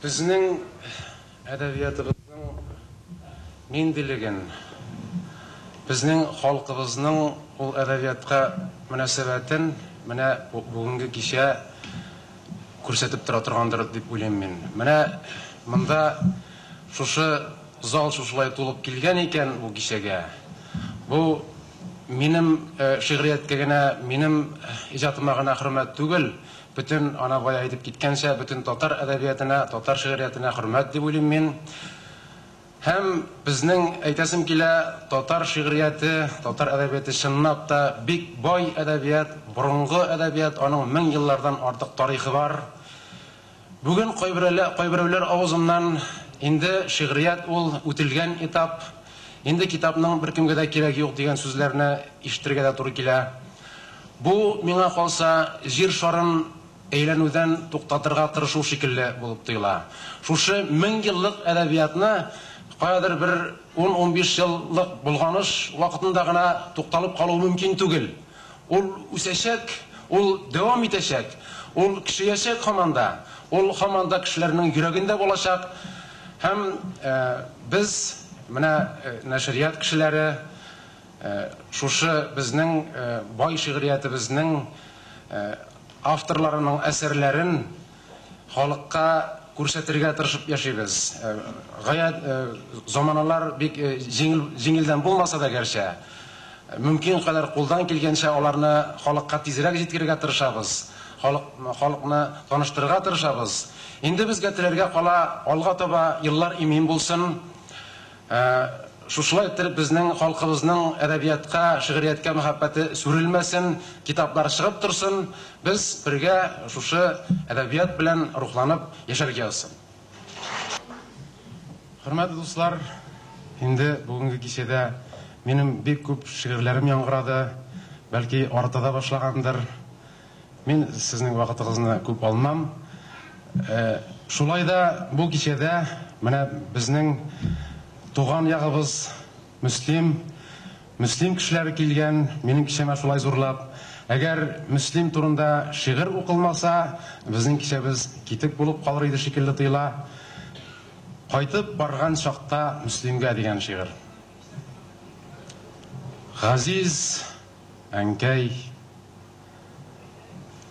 Безнең әдәбиятыбызның ниндилеген, безнең халкыбызның ул әдәбиятка мөнәсәбәтен менә бүгенге кичә күрсәтеп тора торгандыр дип уйлыйм мин. Менә монда шушы зал шушылай тулып килгән икән бу кичәгә, бу минем шигърияткә генә, минем иҗатыма гына хөрмәт түгел, Бөтен, ана бая әйтеп киткәнчә, бөтен татар әдәбиятына, татар шигъриятенә хөрмәт дип уйлыйм мин. Һәм безнең, әйтәсем килә, татар шигърияте, татар әдәбияте чынлап та бик бай әдәбият, борынгы әдәбият, аның мең еллардан артык тарихы бар. Бүген кайберәлә, кайберәүләр авызыннан инде шигърият ул үтелгән этап, инде китапның беркемгә дә кирәге юк дигән сүзләрне ишетергә дә туры килә. Бу, миңа калса, Җир шарын әйләнүдән туктатырга тырышу шикелле булып тоела. Шушы мең еллык әдәбиятны каядыр бер ун-унбиш еллык болгоныш вакытында гына тукталып калу мөмкин түгел. Ул үсәчәк, ул дәвам итәчәк, ул көчәячәк һаман да, ул һаман да кешеләрнең йөрәгендә булачак. Һәм без, менә нәшрият кешеләре, Шушы безнең бай шигъриятебезнең авторларының әсәрләрен халыкка күрсәтергә тырышып яшибез. Гаять заманалар бик җиңел җиңелдән булмаса да гәрчә, мөмкин кадәр кулдан килгәнчә аларны халыкка тизрәк җиткерергә тырышабыз, халык халыкны таныштырырга тырышабыз. Инде безгә теләргә кала, алга таба еллар имин булсын! Ә шушылай иттереп безнең халкыбызның әдәбиятка, шигърияткә мәхәббәте сүрелмәсен, китаплар чыгып торсын, без бергә шушы әдәбият белән рухланып яшәргә язсын. Хөрмәтле дуслар, инде бүгенге кичәдә минем бик күп шигырьләрем яңгырады, бәлки арта да башлагандыр. Мин сезнең вакытыгызны күп алмам. Шулай да бу кичәдә менә безнең туган ягыбыз Мөслим, Мөслим кешеләре килгән минем кичәмә шулай зурлап. Әгәр Мөслим турында шигырь укылмаса, безнең кичәбез китек булып калыр иде шикелле тоела. Кайтып барган чакта Мөслимгә дигән шигырь. Газиз. Әнкәй,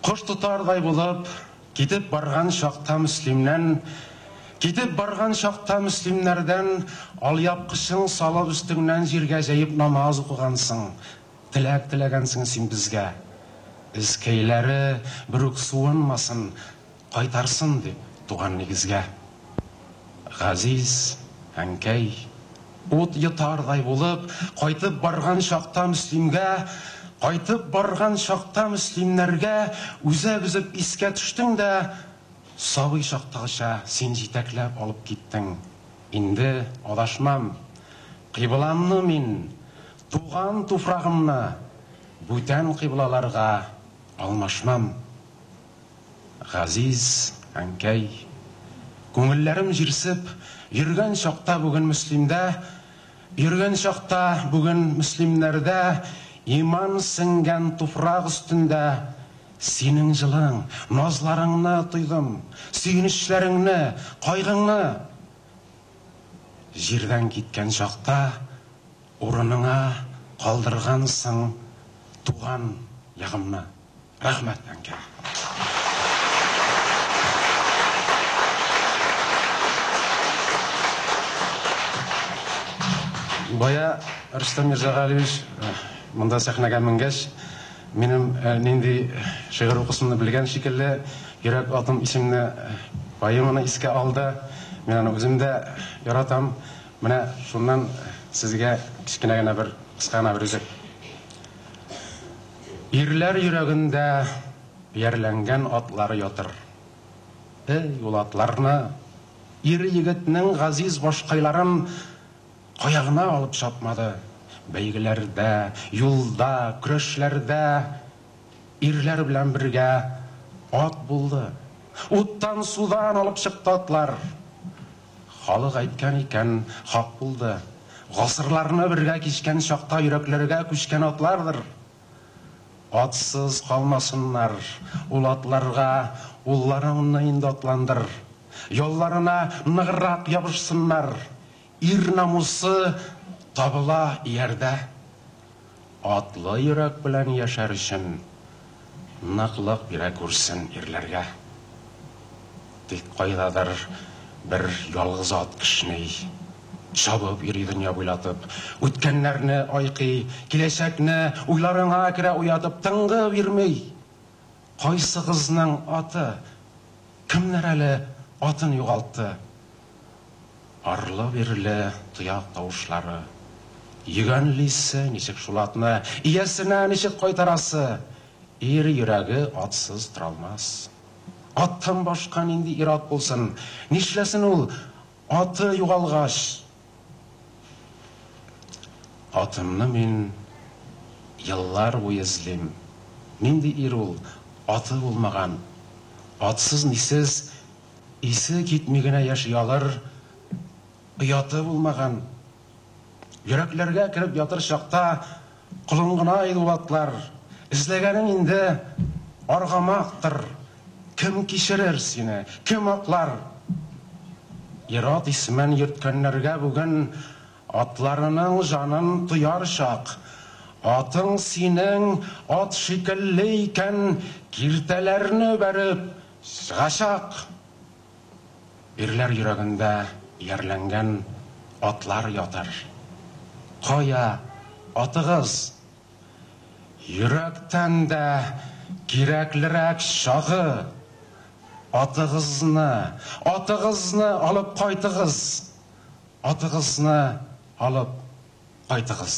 кош тотардай булып, китеп барган чакта Мөслимнән, китеп барган чакта Мөслимнәрдән алъяпкычың салып өстеңнән җиргә җәеп намаз укыгансың, теләк теләгәнсең син безгә, эзкәйләре берүк суынмасын, Кайтарсын дип туган нигезгә. Газиз әнкәй, ут йотардай булып, кайтып барган чакта Мөслимгә, Кайтып барган чакта Мөслимнәргә Үзәк өзеп искә төштең дә, Сабый чактагыча син җитәкләп алып киттең. Инде адашмам. Кыйбламны мин, туган туфрагымны Бүтән кыйблаларга алмашмам. Газиз әнкәй, күңелләрем җирсеп Йөргән чакта бүген Мөслимдә, Йөргән чакта бүген Мөслимнәрдә Иман сеңгән туфрак өстендә Синең җылың, назларыңны тойдым, Сөенечләреңне, кайгыңны Җирдән киткән чакта Урыныңа калдыргансың Туган ягымны. Рәхмәт, әнкәй. Бая Рөстәм Мирзагалиевич монда сәхнәгә менгәч, минем нинди шигырь укысымны белгән шикелле, Йөрәк атым исемле поэманы искә алды. Мин аны үзем дә яратам. Менә шуннан сезгә кечкенә генә бер, кыска гына бер өзек. Ирләр йөрәгендә иярләнгән атлары ятыр. Эй, ул атларны! Ир-егетнең газиз башкайларын кая гына алып чапмады! Бәйгеләрдә, юлда, көрәшләрдә ирләр белән бергә ат булды. Уттан-судан алып чыкты атлар. Халык әйткән икән, хак булды, Гасырларны бергә кичкән чакта йөрәкләргә күчкән атлардыр. Атсыз калмасыннар ул атларга улларыңны инде атландыр, ялларына ныграк ябышсыннар, ир намусы табыла иярдә. Атлы йөрәк белән яшәр өчен ныклык бирә күрсен ирләргә. Тик кайдадыр бер ялгыз ат кешни. Чабып йөри дөнья буйлатып. Үткәннәрне айкый, киләчәкне уйларыңа керә уятып. Тынгы бирми. Кайсыгызның аты? Кемнәр әле атын югалтты? Арлы-бирле тояк тавышлары. Йөгәнлисе ничек шул атны, иясенә ничек кайтарасы? Ир йөрәге атсыз торалмас. Аттан башка нинди ир-ат булсын? Нишләсен ул, аты югалгач? Атымны мин еллар буе эзлим. Нинди ир ул, аты булмаган, атсыз-мисез Исе китми генә яши алыр, ояты булмаган. Йөрәкләргә кереп ятыр чакта колын гына Айдулатлар. Эзләгәнең инде аргамактыр, кем кичерер сине, кем аклар? Ир-ат исемен йөрткәннәргә бүген атларының җанын тояр чак. Атың синең ат шикелле икән, киртәләрне бәреп, Сгачак! Ирләр йөрәгендә иярләнгән атлар ятыр. Кая, атыгыз! Йөрәктән дә кирәклерәк чагы! Атыгызны, атыгызны алып кайтыгыз! Атыгызны алып кайтыгыз!